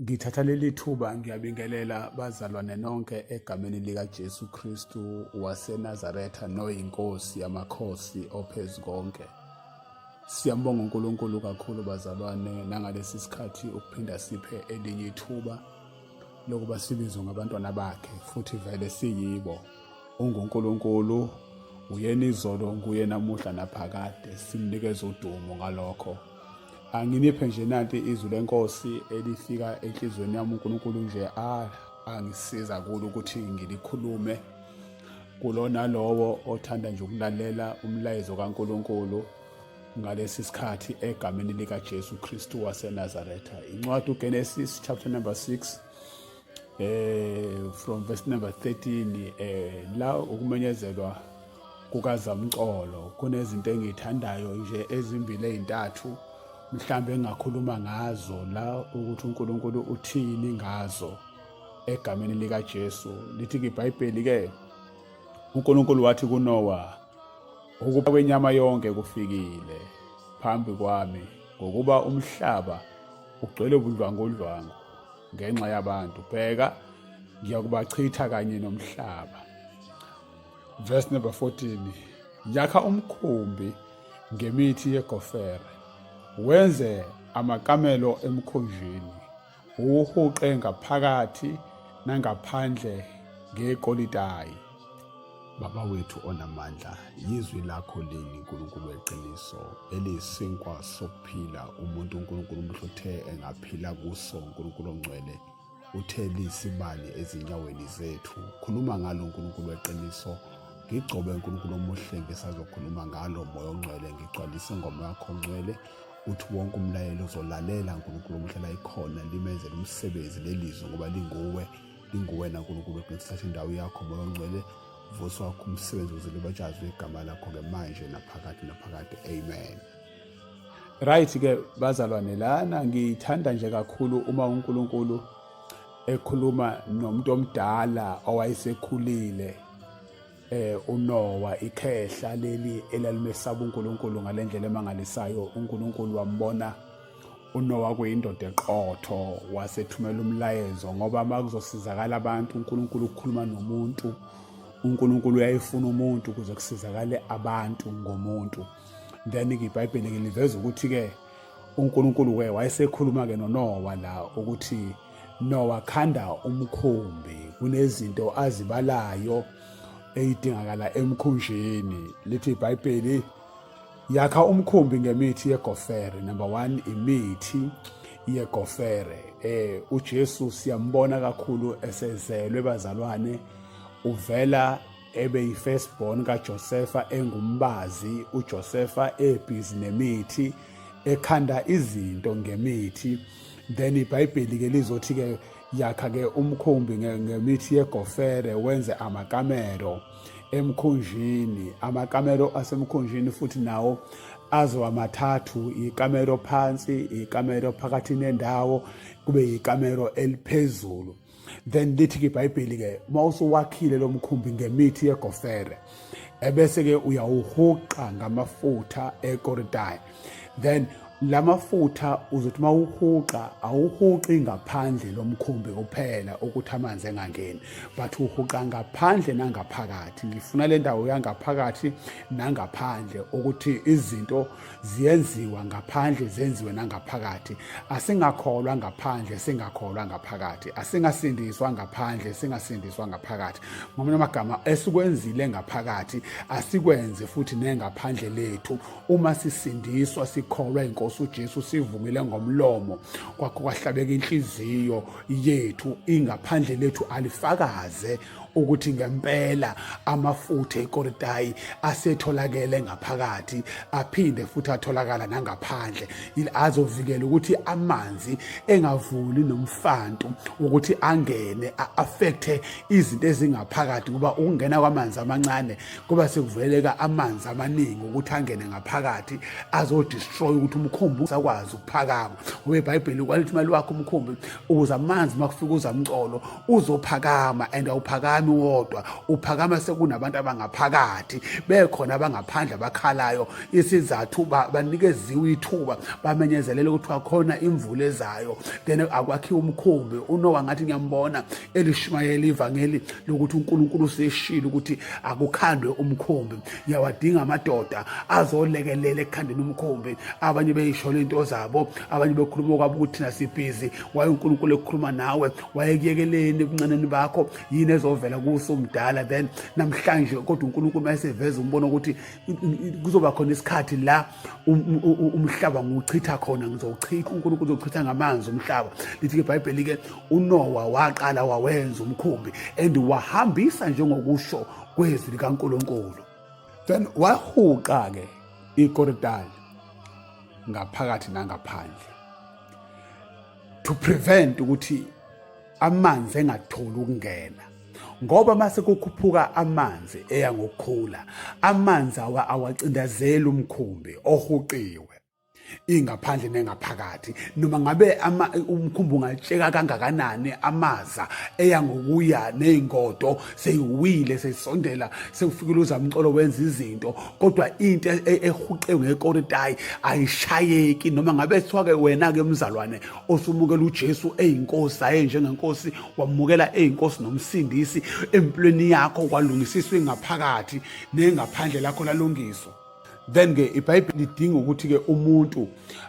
Ngithatha leli thuba ngiyabingelela bazalwane nonke egameni likaJesu Kristu waseNazaretha noyinkosi yamakhosi ophezu konke. Siyambonga uNkulunkulu kakhulu bazalwane nangalesi sikhathi ukuphinda siphe elinye ithuba lokuba sibizwe ngabantwana bakhe futhi vele siyibo. UnguNkulunkulu uyena izolo nguye namuhla naphakade simnikeza udumo ngalokho. anginiphe nje nanti izwi lenkosi elifika enhliziyweni yami uNkulunkulu nje ah, angisiza kulo ukuthi ngilikhulume kulona lowo othanda nje ukulalela umlayezo kaNkulunkulu ngalesi sikhathi egameni likaJesu Kristu waseNazaretha incwadi uGenesis chapter number 6 eh from verse number 13 eh la ukumenyezelwa kukazamcolo kunezinto engithandayo nje ezimbili ezintathu mhlambe engakhuluma ngazo la ukuthi uNkulunkulu uthini ngazo egameni lika Jesu lithi iBhayibheli ke uNkulunkulu wathi kuNowa ukuba kwenyama yonke kufikile phambi kwami ngokuba umhlaba ugcwele ubudlwangudlwangu ngenxa yabantu bheka ngiyakubachitha kanye nomhlaba verse number 14 yakha umkhumbi ngemithi yegofere wenze amakamelo emkhunjini uwuhuqe ngaphakathi nangaphandle ngekolitayi Baba wethu onamandla, yizwi lakho lini uNkulunkulu weqiniso eliyisinkwa sokuphila umuntu uNkulunkulu umhluthe engaphila kuso uNkulunkulu ongcwele uthe liyisibani ezinyaweni zethu khuluma ngalo uNkulunkulu weqiniso ngigcobe uNkulunkulu omuhle ngisazokhuluma ngalo moya ongcwele ngigcwalise ingoma yakho ongcwele uthi wonke umlayelo uzolalela uNkulunkulu omhlela ikhona limenzela umsebenzi lelizwe ngoba linguwe inguwena nkulunkulu ogcina sithatha indawo yakho moya ongcwele vuso wakho umsebenzi ukuze libatshazwe igama lakho-ke manje naphakade naphakade amen right-ke bazalwane lana ngiyithanda nje kakhulu uma unkulunkulu ekhuluma nomuntu omdala owayesekhulile eh uNowa ikhehla leli elalimesaba uNkulunkulu ngalendlela emangalisayo uNkulunkulu wambona uNowa kuyindoda eqotho wasethumela umlayezo ngoba makuzosizakala abantu uNkulunkulu ukukhuluma nomuntu uNkulunkulu uyayifuna umuntu ukuze kusizakale abantu ngomuntu then ke iBhayibheli ke liveza ukuthi ke uNkulunkulu ke wayesekhuluma-ke noNowa la ukuthi Nowa khanda umkhumbi kunezinto azibalayo eyidingakala emkhunjini lithi iBhayibheli yakha umkhumbi ngemithi yegofere number 1 imithi yegofere eh uJesu siyambona kakhulu esezelwe bazalwane uvela ebeyifirstborn kaJosefa engumbazi uJosefa ebhizi nemithi ekhanda izinto ngemithi then ibhayibheli ke lizothi ke yakha ke umkhumbi ngemithi yegofere wenze amakamero emkhunjini amakamero asemkhunjini futhi nawo azoba mathathu ikamero phansi ikamero phakathi nendawo kube ikamero eliphezulu then lithi-ke ibhayibheli-ke uma usuwakhile lo mkhumbi ngemithi yegofere ebese-ke uyawuhuqa ngamafutha ekoridayi then la mafutha uzothi uma uhuqa awuhuqi ngaphandle lo mkhumbi kuphela ukuthi amanzi engangeni but uhuqa ngaphandle nangaphakathi ngifuna le ndawo yangaphakathi nangaphandle ukuthi izinto ziyenziwa ngaphandle zenziwe nangaphakathi asingakholwa ngaphandle singakholwa ngaphakathi asingasindiswa ngaphandle singasindiswa ngaphakathi ngomunye amagama esikwenzile ngaphakathi asikwenze futhi nengaphandle lethu uma sisindiswa sikholwa inkosi uJesu sivumile ngomlomo kwakho kwahlabeka inhliziyo yethu ingaphandle lethu alifakaze ukuthi ngempela amafutha ekoritayi asetholakele ngaphakathi aphinde futhi atholakala nangaphandle azovikela ukuthi amanzi engavuli nomfantu ukuthi angene a-affecthe izinto ezingaphakathi ngoba ukungena kwamanzi amancane kuba sekuvuleleka amanzi amaningi ukuthi angene ngaphakathi azodestroy ukuthi umkhumbi usakwazi ukuphakama ngoba ibhayibheli kwalithi imali wakho umkhumbi ukuze amanzi uma kufika uzamcolo uzophakama and awuphakami wodwa uphakama sekunabantu abangaphakathi bekhona abangaphandle abakhalayo isizathu banikeziwe ithuba bamenyezelele ukuthi wakhona imvula ezayo then akwakhiwa umkhumbi unowa ngathi ngiyambona elishumayela ivangeli lokuthi unkulunkulu useshile ukuthi akukhandwe umkhumbi ngiyawadinga amadoda azolekelela ekukhandeni umkhumbi abanye beyisholo into zabo abanye bekhuluma kwabo ukuthi thina sibhizi waye unkulunkulu ekhuluma nawe wayekuyekeleni ebuncaneni bakho yini ezovela kuso mdala then namhlanje kodwa uNkulunkulu mayeseveza umbona ukuthi kuzoba khona isikhathi la um, um, um, umhlaba ngiwuchitha khona ngizowuchitha uNkulunkulu uzochitha ngamanzi umhlaba lithi ke iBhayibheli ke uNowa waqala wawenza umkhumbi and wahambisa njengokusho kwezwi likaNkulunkulu then wahuqa ke ikoridali ngaphakathi nangaphandle to prevent ukuthi amanzi engatholi ukungena ngoba mase kukhuphuka amanzi eya ngokukhula amanzi awa awacindazeli umkhumbi ohuqiwe ingaphandle nengaphakathi noma ngabe umkhumbi ungatsheka kangakanani amaza eya ngokuya nezingodo seyiwile sesondela sekufikile uzamcolo wenza izinto kodwa into e-, e-, ehuqewe ngekoritayi ayishayeki noma ngabe kuthiwa-ke wena-ke mzalwane osumukela ujesu eyinkosi aye njengenkosi wamukela eyinkosi nomsindisi empilweni yakho kwalungisiswa ingaphakathi nengaphandle lakho lalungiswa then ke ibhayibheli lidinga ukuthi ke umuntu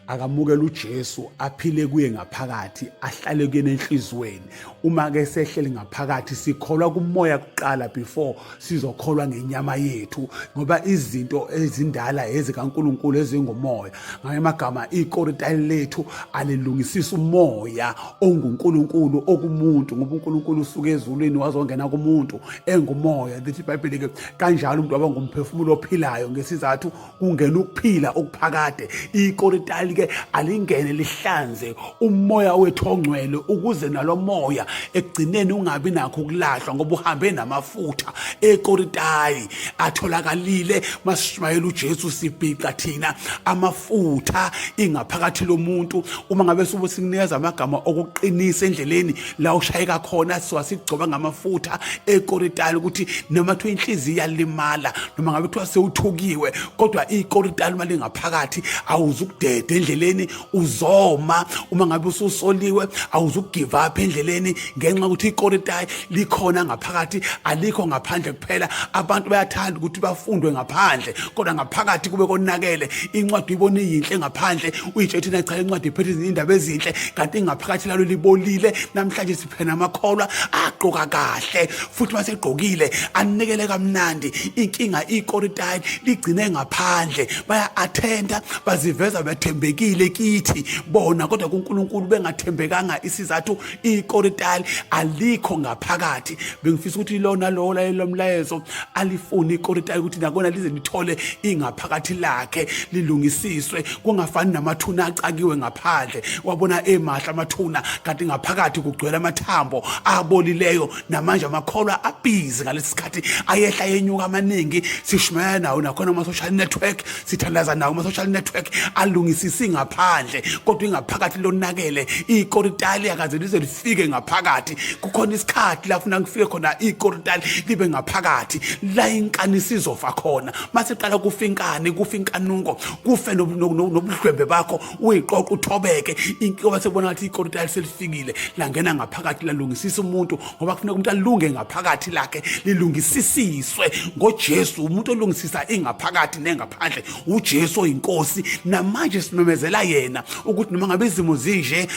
akamukele uJesu aphile kuye ngaphakathi ahlale kuyena enhlizweni uma ke sehlele ngaphakathi sikholwa kumoya kuqala before sizokholwa ngenyama yethu ngoba izinto ezindala ezikaNkuluNkulu ezingomoya ngamanye amagama ikoritali lethu alilungisisa umoya ongunkulunkulu okumuntu ngoba unkulunkulu usuke ezulwini wazongena kumuntu engumoya lithi ibhayibheli-ke kanjalo umuntu waba ngumphefumulo ophilayo ngesizathu kungena ukuphila okuphakade ikoritali-ke alingene lihlanze umoya wethu ongcwele ukuze nalo moya ekugcineni ungabi nakho ukulahlwa ngoba uhambe namafutha ekoritali atholakalile masishumayela uJesu sibhica thina amafutha ingaphakathi lomuntu uma ngabe sobe sikunikeza amagama okuqinisa endleleni la ushayeka khona siwasigcoba ngamafutha ekoritali ukuthi noma kuthiwa inhliziyo iyalimala noma ngabe kuthiwa sewuthukiwe kodwa ikoritali uma lingaphakathi awuzukudede endleleni uzoma uma ngabe ususoliwe awuzugive up endleleni ngenxa yokuthi ikoritayi likhona ngaphakathi alikho ngaphandle kuphela abantu bayathanda ukuthi bafundwe ngaphandle kodwa ngaphakathi kube konakele incwadi uyibona iyinhle ngaphandle uyitshe thina cha incwadi iphethe indaba ezinhle kanti ngaphakathi lalo libolile namhlanje phena amakholwa agqoka kahle futhi masegqokile anikele kamnandi inkinga ikoritayi ligcine ngaphandle baya-athenda baziveza bethembekile kithi bona kodwa kunkulunkulu bengathembekanga isizathu ikoritayi alikho ngaphakathi bengifisa ukuthi lona lowo layelo mlayezo alifuni ikoritayi ukuthi nakona lize lithole ingaphakathi lakhe lilungisiswe kungafani namathuna acakiwe ngaphandle wabona emahle amathuna kanti ngaphakathi kugcwele amathambo abolileyo namanje amakholwa abhizi ngalesi sikhathi ayehla yenyuka amaningi sishumayela nawo nakhona ama-social network sithandaza nawo ama-social network alungisisi ngaphandle kodwa ingaphakathi lonakele ikoritali akaze lize lifike ngaphakathi kukhona isikhathi lafuna ngifike khona ikoritali libe ngaphakathi la inkani sizofa khona masiqala kufa inkani kufa inkanuko kufe nobuhlwembe bakho uyiqoqa uthobeke inkoba sekubona ngathi ikorita selifikile langena ngaphakathi lalungisisa umuntu ngoba kufuneka umuntu alunge ngaphakathi lakhe lilungisisiswe ngojesu umuntu olungisisa ingaphakathi nengaphandle ujesu oyinkosi namanje simemezela yena ukuthi noma ngabe izimo zinje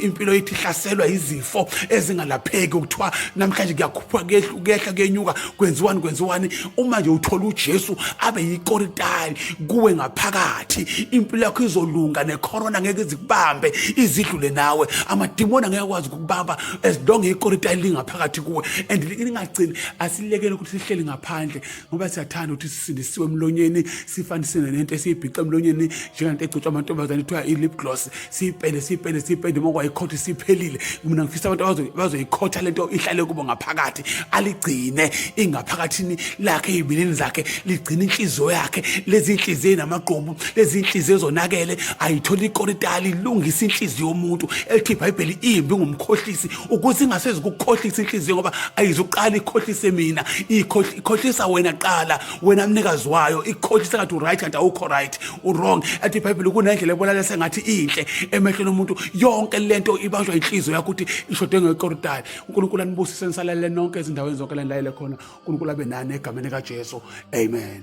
impilo yethu ihlaselwa izifo ezingalapheki ukuthiwa namhlanje kuyakhuphuka kuyehla kuyenyuka kwenziwani kwenziwani uma nje uthola uJesu abe yikoritali kuwe ngaphakathi impilo yakho izolunga necorona ngeke izikubambe izidlule nawe amadimoni angeke akwazi ukukubamba as long ikoritali lingaphakathi kuwe and lingagcini asilekele ukuthi sihleli ngaphandle ngoba siyathanda ukuthi sisindisiwe emlonyeni sifanisene nento esiyibhica emlonyeni njengento egcotshwa amantombazane kuthiwa i-lip gloss siyipende siyipende siyipende uma kwayikhotha isiphelile mina ngifisa abantu bazoyikhotha le nto ihlale kubo ngaphakathi aligcine ingaphakathini lakhe ey'bilini zakhe ligcine inhliziyo yakhe lezi nhliziyo enamagqomu lezi nhliziyo ezonakele ayithole ikoritali ilungise inhliziyo yomuntu elithi ibhayibheli imbi ngumkhohlisi ukuze ingasezi kukukhohlisa inhliziyo ngoba ayizuqala ikhohlise mina ikhohlisa wena qala wena mnikazi wayo ikhohlisa kathi uright kanti awukho right urong athi ibhayibhile kunendlela ebonakala sengathi inhle emehlweni omuntu yonke le nto ibanjwa inhliziyo yakho ukuthi ishode ngekoridayo unkulunkulu anibusise nisalalele nonke ezindaweni zonke lanilayele khona unkulunkulu abe nani egameni kajesu amen